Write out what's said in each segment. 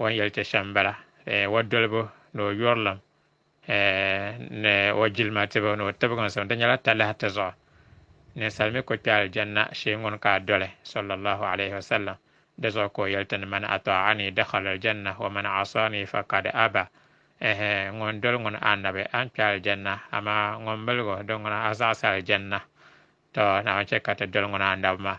O ni yɛli ti shɛm m-bala, eh, o dolibu ni o yurilim, eh, ni o jilima tibu ni o tibiginsim, di nyɛla talahi ti zuɣu. Ninsal mi ku kpe Aljanna shee ŋun ka a doli, sallallahu alayhi wa sallam, di zuɣu ka o yɛli ti ni, Man atɔɣani dakhala Aljanna, wa man asɔɔni fa kad aba, eh, ŋun doli ŋun a Annabi, a ni kpe Aljanna, amaa ŋun milig o, di ŋuna a zaɣisi Aljanna. Tɔ! Naawuni chɛ ka ti doli ŋun a Annabi maa.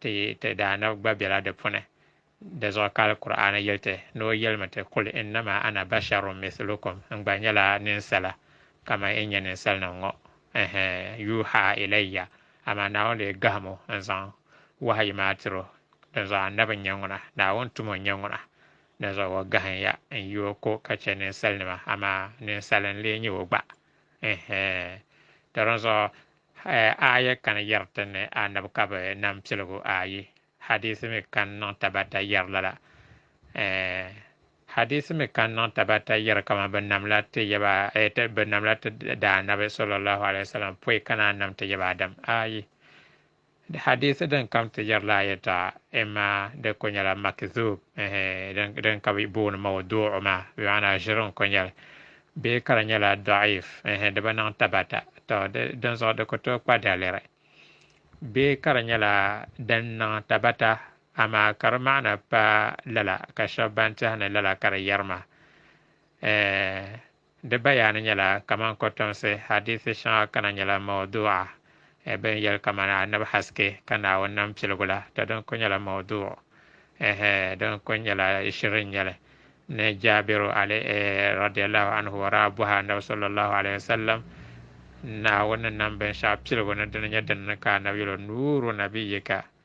Ti yi ti Daanabi gba bela di puuni. Di zuɣu ka Alkur'aani yeli ti ni o yelimi ti, Kul innama ana basharun mithlukum, N gba nyela ninsala kaman yi nye ninsalinim ŋɔ. Ɛhɛ! Yuuha ilayya, amaa Naawuni lee gahim o n-zaŋ wahayi maa tir o. Dinzuɣu Annabi n-nye ŋuna, Naawuni tumo n-nye ŋuna. Dinzuɣu o gahim ya n-yi o ko ka che ninsalinima, amaa ninsali n-lee nye o gba. Ɛhɛ! Tɔ dinzuɣu Aaya kani yɛri ti ni Annabi ka bɛ nam piligu ayi, hadiisi mi kani niŋ tabata yɛri lala. Hadiisi mi kani niŋ tabata yɛri kaman bɛ namla ti yaba bɛ namla ti Daanabi sallallahu alaihi wasallam pɔi ka naan nam ti yaba Adam. Ayi. Di hadiisi din kam ti yɛri la yɛta imma di ko nyɛla makidhub, din ka bi booni mawdu'u maa, bi maana ʒiri n ko nyɛli, bee ka di nyɛla dɔ'if, di bi niŋ tabata, tɔ dinzuɣu di ku tooi kpa daliri, bee ka di nyɛla din niŋ tabata amaa ka di maana pa lala ka shɛba ban tehi ni lala ka di yɛri maa. Di bayaani nyɛla kaman kɔtomsi, hadithi shɛŋa kana nyɛla mawdu'a, eh, bɛ ni yɛli kaman Annabi haske ka Naawuni nam piligu la, tɔ din kul nyɛla mawdu'u, eh, din kul nyɛla shiri n-nyɛ li. Ni Jaabiru, alay, radiyallahu anhu o daa bɔhi Annabi sallallahu alayhi wa sallam, Naawuni ni nam binshɛɣu piligu ni dini nyɛ din ni ka Annabi yɛl o, Nuuru nabiyyika,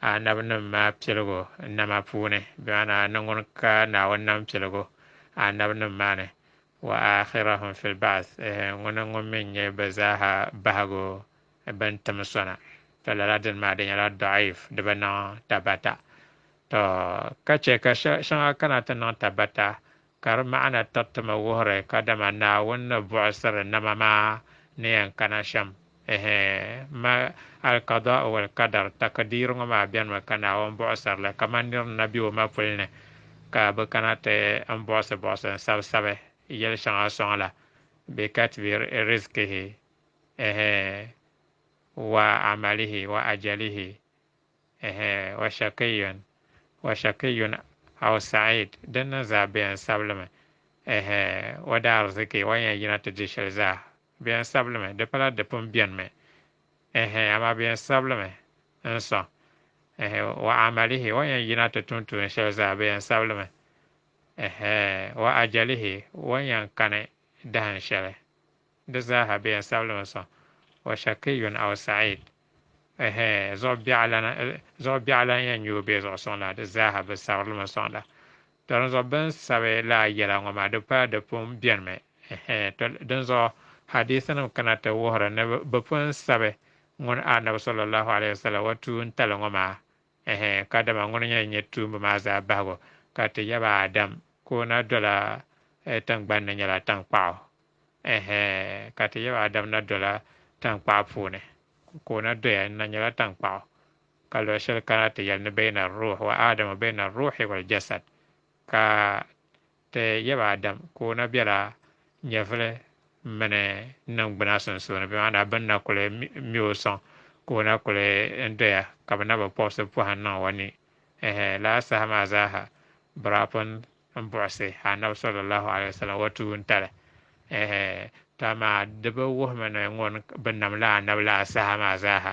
anabinim maa piligu nama puuni, bɛ maana ni ŋun ka Naawuni nam piligu anabinim maa ni, wa aakhirahum fil ba'th, ŋuni ŋun mi nyɛ bɛ zaaha bahigu bɛn tim sɔna, tɔ lala dini maa di nyɛla dɔɣif, di bi niŋ tabata. Tɔ! Ka chɛ ka shɛŋa kana ti niŋ tabata. Ka di maana tatimi wuhiri kadama Naawuni ni buɣisiri nama maa ni yɛn kana shɛm. Ɛhɛ! Ma, Al-Qadaa'u wal Qadar, Takdiir, ŋɔ maa benimi ka Naawuni buɣisiri li kaman nir ni na be o mapuli ni, ka bɛ kana ti n buɣisi buɣisi n sabi sabi yɛl shɛŋa sɔŋ la, bi katbi rizqihi, ɛhɛ! wa amalihi wa ajalihi, Ɛhɛ, Washakiyun, Washakiyun aw Sa'id, din niŋ zaa bɛ yɛn sabi li mi. Ɛhɛ, O daa ariziki, o yɛn yina ti di shɛli zaa, bɛ yɛn sabi li mi, di pala di pun beni mi. Ɛhɛ, amaa bɛ yɛn sabi li mi, N sɔŋ. Ɛhɛ, Wa amalihi, o yɛn yina ti tum tuun shɛli zaa, bɛ yɛn sabi li mi. Ɛhɛ, Wa ajalihi, o yɛn kani dahin shɛli. Di zaaha bɛ yɛn sabilimi sɔŋ, wa shakiyun aw sa'id, ɛhɛ, zuɣu biɛɣu lan, zuɣu biɛɣu lan yɛn nyoo bee zuɣu suŋ la, di zaaha bɛ sabirlimi sɔŋ la. Tɔ dinzuɣu bɛ ni sabi lala yɛla ŋɔ maa, di pala di pun bɛnimi, ɛhɛ, tɔ dinzuɣu hadiithinim kana ti wuhiri ni bɛ pun sabi ŋun Anabi sɔllallaahu alayhi wa sallam wa tuuntali ŋɔ maa Ɛhɛ, ka dama ŋuni nyɛla nyɛ tuumba maa zaa bahigu, ka ti yaba Adam ka o na dola tiŋgbani ni nyɛla taŋkpaɣu. Ɛhɛ, ka ti yaba Adam na dola taŋkpaɣu puuni, ka o na doya n-na nyɛla taŋkpaɣu. Ka luɣ shɛli kana ti yɛli ni Bɛɛna Ruuhi wa Adam wa Bɛɛna Ruuhi wal Jasad, ka Ti yab Adam ka o na bela nyɛvili mini niŋgbuna sunsuuni, bɛ maa daa bɛ ni na kuli me o sɔŋ ka o na kuli doya ka bɛ na bi pɔbisi pɔhim niŋ o ni. Ɛhɛ! Lala saha maa zaaha Biraapun m-buɣisi Annabi sallallahu alaihi wasallam o tuuntali. Ɛhɛ! To amaa di bi wuhimi ni ŋun bi nam la Annabi la a saha maa zaaha.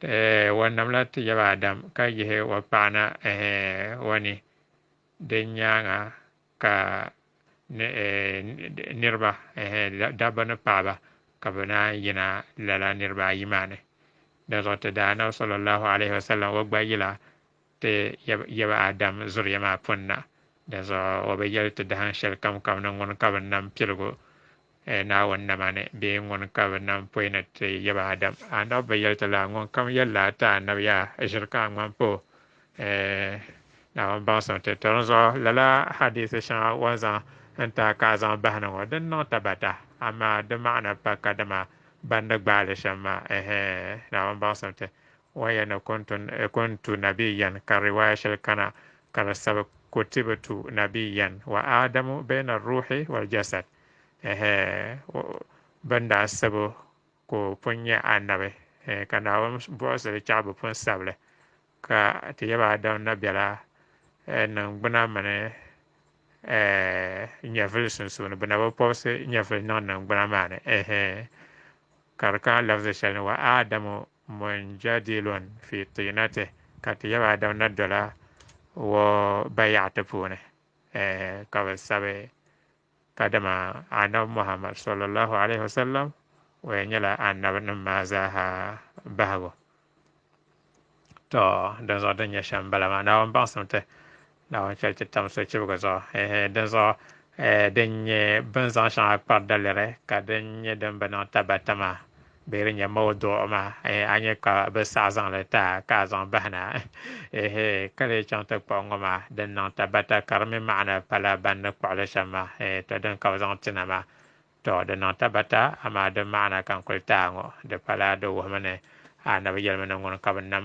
Eh, wa nam la ti yaba Adam ka yihi wa paɣana eh, wa ni. Din nyaaŋa ka eh, niriba eh, dabba ni paɣaba ka bɛ naan yina lala niriba ayi maa ni. Dinzuɣu ti daanabi sallallahu alaihi wasallam wa gba yila Ti yaba Adam zuriya maa pun na, dinzuɣu o bi yɛli ti dahin shɛli kamkam ni ŋuni ka bɛ nam piligu Naawuni nama ni bee ŋuni ka bɛ nam pɔi ni ti yaba Adam. Anab bi yɛli ti laa, Ŋunkam yɛli laa ti Anab yaa, ʒiri ka a ŋmani pa o Naawuni baŋsim ti tɔri n zuɣu. Lala hadiisi shɛŋa o ni zaŋ n-tahi ka a zaŋ bahi ni ŋɔ, din niŋ tabata, amaa di maana pa kadama ban ni gbaai li shɛm maa, ɛɛhɛɛ, Naawuni baŋsim ti Wa ya ni ko n-tu n-, ko n-tu Nabi Yan, ka riwaaya shɛli kana ka di sabi ko ti bi tu Nabi Yan, wa Aadamu bayna ar-ruuhi wal-jasad, ɛɛhɛ, bɛ ni daa sab o ka o pun nyɛ Annabi, ɛɛh, ka Naawuni buɣisi li chɛɣu bɛ pun sab li, ka ti yab Aadam na bela, ɛɛh, niŋgbuna mini, ɛɛh, nyɛvili sunsuuni, bɛ na bi pɔbisi nyɛvili niŋ niŋgbuna maa ni, ɛɛhɛ, ka di kana lafzi shɛli ni, wa Aadamu Mujadilun fi tinati ka ti yaba Adam na dola o bayaɣati puuni ka bi sabi kadama Anabi Muhammad sallallahu alayhi wa sallam o yɛn nyɛla Anabi nim maa zaaha bahigu to dinzuɣu din nyɛ shɛm bala maa Naawuni baŋsim ti Naawuni chɛli ti tam sochibiga zuɣu ehe, dinzuɣu e, din nyɛ bini zaŋ shɛŋa kpari daliri ka din nyɛ din bi niŋ tabata maa bee din nyɛ mawduɣu maa ehe, a nyɛ ka bɛ saɣi zaŋ li ti a ka a zaŋ bahi na ehe, ka lee chaŋ ti kpuɣi ŋɔ maa din niŋ tabata ka di mi maɣina pala ban ni kpuɣi li shɛm maa ehe, tɔ din ka bɛ zaŋ ti na maa tɔ di niŋ tabata amaa di maɣina ka n kuli ti a ŋɔ di pala di wuhimi ni a nabi yɛlimi ni ŋuni ka bɛ nam